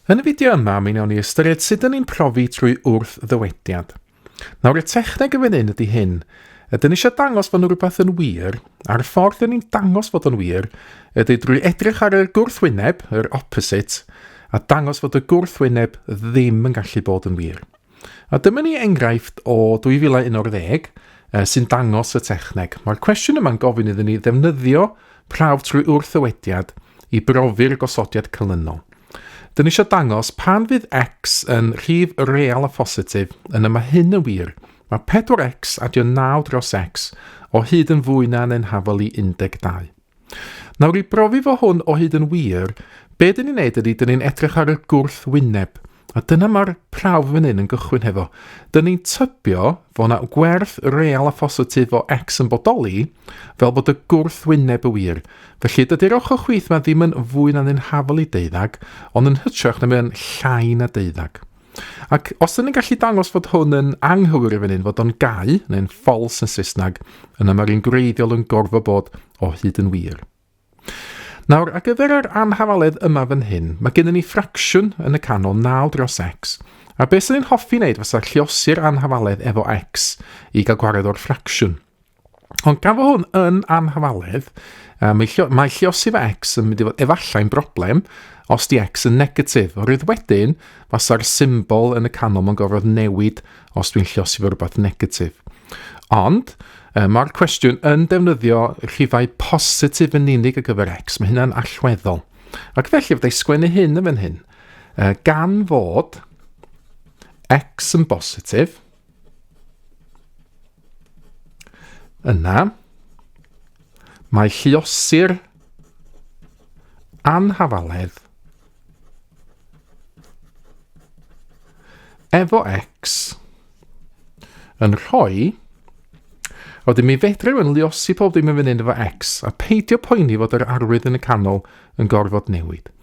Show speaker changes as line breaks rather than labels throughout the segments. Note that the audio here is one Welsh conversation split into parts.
Yn y fideo yma, mi wnawn ni ystyried sut dyn ni'n profi trwy wrth-ddywediad. Nawr, y techneg yn fan hyn ydy hyn. Ydyn ni eisiau dangos fod nhw rhywbeth yn wir, a'r ffordd dyn ni'n dangos fod o'n wir ydy drwy edrych ar y gwrthwyneb, yr opposite, a dangos fod y gwrthwyneb ddim yn gallu bod yn wir. A dyma ni enghraifft o 2011 uh, sy'n dangos y techneg. Mae'r cwestiwn yma'n gofyn iddyn ni ddefnyddio prawf trwy wrthywediad i brofi'r gosodiad canlynol. Dyn ni eisiau dangos pan fydd x yn rhif real a phositif, yna mae hyn yn wir. Mae 4x adio 9 dros x o hyd yn fwy na neu'n hafol i 12. Nawr i brofi fo hwn o hyd yn wir, be dyn ni'n neud ydy, dyn ni'n edrych ar y gwrth wyneb. A dyna mae'r prawf fan hyn yn gychwyn hefo. Dyn ni'n tybio fo na gwerth real a phositif o x yn bodoli, fel bod y gwrth wyneb y wir. Felly, dydy'r ochr chwith mae ddim yn fwy na'n un hafel i deuddag, ond yn hytrach na mae'n llai na deuddag. Ac os ydyn ni'n gallu dangos fod hwn yn anghywir i fyny, fod o'n gau, neu'n false yn Saesneg, yna mae'r un gwreiddiol yn gorfod bod o hyd yn wir. Nawr, ar gyfer yr anhafaledd yma fan hyn, mae gennym ni ffracsiwn yn y canol 9 dros x, a beth sy'n ni'n hoffi wneud fysa lliosi'r anhafaledd efo x i gael gwared o'r ffracsiwn. Ond gan fod hwn yn anhafaledd, uh, mae, llio, mae lliosi fe X yn mynd i fod efallai'n broblem os di X yn negatif. O'r rhaid wedyn, fasa'r symbol yn y canol mae'n gorfod newid os dwi'n lliosi fe rhywbeth negatif. Ond, uh, mae'r cwestiwn yn defnyddio rhifau positif yn unig ar gyfer X. Mae hynna'n allweddol. Ac felly, fydda i sgwennu hyn yn fan hyn. Uh, gan fod X yn bositif, Yna, mae lliosir anhafaledd efo X yn rhoi a wedyn mi fedrwn yn liosi pob dim yn fan hyn efo X a peidio poeni fod yr arwydd yn y canol yn gorfod newid.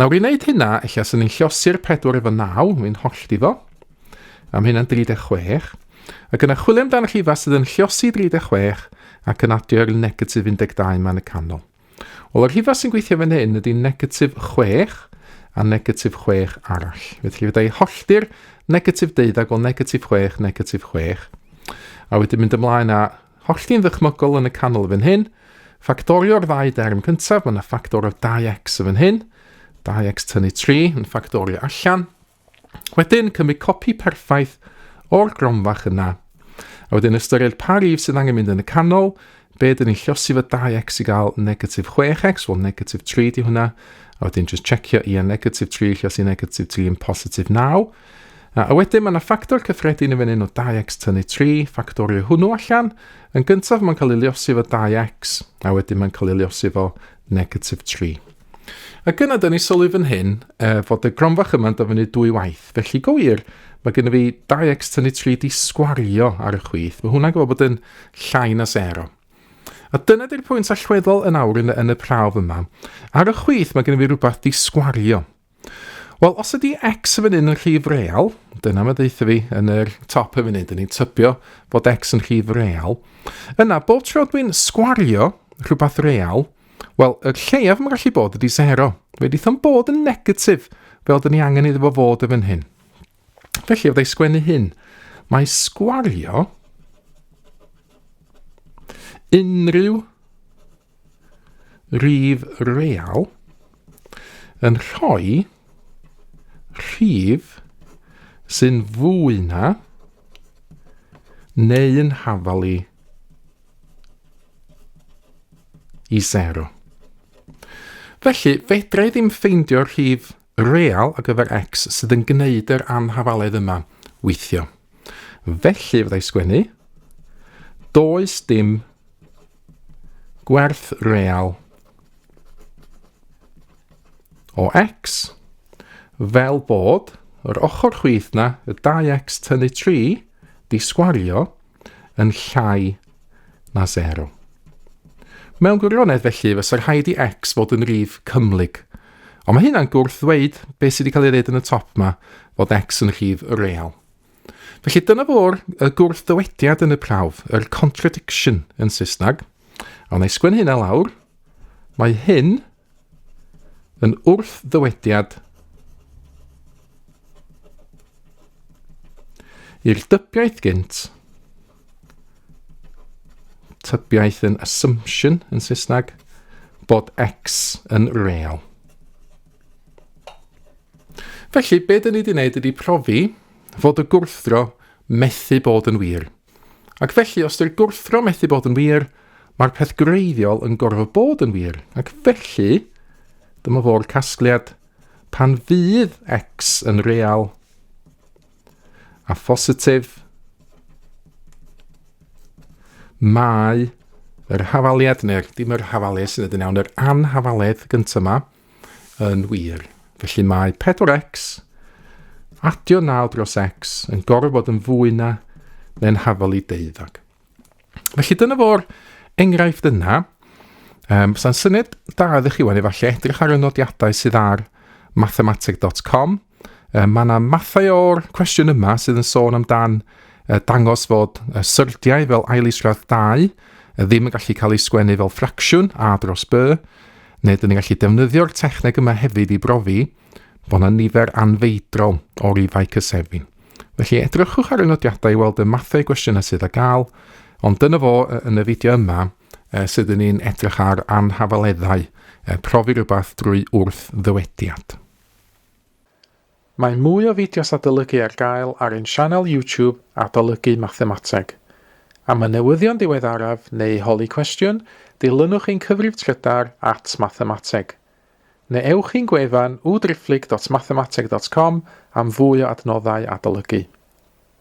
Nawr i wneud hynna, eich asyn ni'n llosi'r 4 efo 9, mae'n holl di fo. A mae hynna'n 36. Ac yna chwilio amdano'r rhifau sydd yn llosi 36 ac yn adio'r negatif 12 yma yn y canol. Wel, yr rhifau sy'n gweithio fan hyn ydy negatif 6 a negatif 6 arall. Felly fydda i hollti'r negatif deuddeg, wel negatif 6, negatif 6. A wedyn mynd ymlaen â Hollti'n ddychmygol yn y canol fan hyn. Ffactorio'r ddau derm cyntaf, mae yna ffactor o 2x y fan hyn. 2x tynnu 3 yn ffactorio allan. Wedyn, cymryd copi perffaith o'r gromfach yna. A wedyn ystyried pa rif sydd angen mynd yn y canol, be dyn ni'n llosi fo 2x i gael negatif 6x, wel negatif 3 di hwnna, a wedyn just checio i a negatif 3 llosi negatif 3 yn positif 9, A, a wedyn mae yna ffactor cyffredin yn fyny o 2x tynnu 3, ffactorio hwnnw allan. Yn gyntaf mae'n cael ei liosi fo 2x, a wedyn mae'n cael ei liosi fo negatif 3. Ac yna, da ni sylwi fan hyn e, fod y gronfach yma'n dyfynu dwy waith. Felly, go wir, mae gen i fi 2x tynnu 3 di sgwario ar y chwith. Mae hwnna'n gwybod bod yn llai na 0. A dyna di'r pwynt allweddol yn awr yn, yn y prawf yma. Ar y chwith mae gen i fi rhywbeth di sgwario. Wel, os ydy x yn fan hyn yn rhif real, dyna mae ddeitha fi yn yr top yn fan hyn, dyn ni'n tybio bod x yn rhif real, yna bob tro dwi'n sgwario rhywbeth real, wel, y lleiaf mae'n gallu bod ydy 0. Fe ddeitha yn bod yn negatif, fel dyn ni angen iddo fo fod yn fan hyn. Felly, o ddau sgwennu hyn, mae sgwario unrhyw rhif real yn rhoi rhif sy'n fwy na neu'n hafalu i sero. Felly, fedra i ddim ffeindio'r rhif real ar gyfer X sydd yn gwneud yr anhafaledd yma weithio. Felly fyddai sgwennu, does dim gwerth real o X fel bod yr ochr chwith na, y 2X tynnu 3, Di sgwario yn llai na sero. Mewn gwirionedd felly, fysa rhaid i X fod yn rif cymhlyg. Ond mae hynna'n gwrth ddweud beth sydd wedi cael ei ddweud yn y top yma, fod X yn rhif real. Felly dyna fo'r y gwrth ddywediad yn y prawf, yr contradiction yn Saesneg. A wna i sgwennu hynna lawr. Mae hyn Yn wrth-ddywediad i'r dybiaeth gynt, tybiaeth yn assumption yn Saesneg, bod X yn real. Felly, be dyn ni wedi wneud ydy profi fod y gwrthdro methu bod yn wir. Ac felly, os dy'r gwrthro methu bod yn wir, mae'r peth greiddiol yn gorfod bod yn wir. Ac felly, dyma fo'r casgliad. Pan fydd x yn real a phositif, mae yr hafaliad, neu'r dim yr hafaliad sy'n edrych yn iawn, yr anhafaliaeth gyntaf yma, Yn wir. Felly mae 4x adio 9 dros x yn gorfod yn fwy na neu'n hafal i deuddag. Felly dyna fo'r enghraifft yna. Um, Sa'n syniad da ydych chi wan efallai edrych ar y nodiadau sydd ar mathematic.com Uh, mae yna mathau o'r cwestiwn yma sydd yn sôn amdan uh, dangos fod uh, syrdiau fel ailisgradd 2 uh, ddim yn gallu cael ei sgwennu fel ffracsiwn a dros by, neu dyn ni'n gallu defnyddio'r techneg yma hefyd i brofi bod yna nifer anfeidrol o rifau cysefin. Felly edrychwch ar y nodiadau i weld y mathau gwestiynau sydd â gael, ond dyna fo yn y fideo yma uh, sydd yn un edrych ar anhafaleddau, uh, profi rhywbeth drwy wrth ddywediad. Mae mwy o fideos adolygu ar gael ar ein sianel YouTube Adolygu Mathemateg. Am y newyddion diweddaraf neu holi cwestiwn, dilynwch ein cyfrif trydar at Mathemateg. Neu ewch i'n gwefan www.driphlyg.mathemateg.com am fwy o adnoddau adolygu.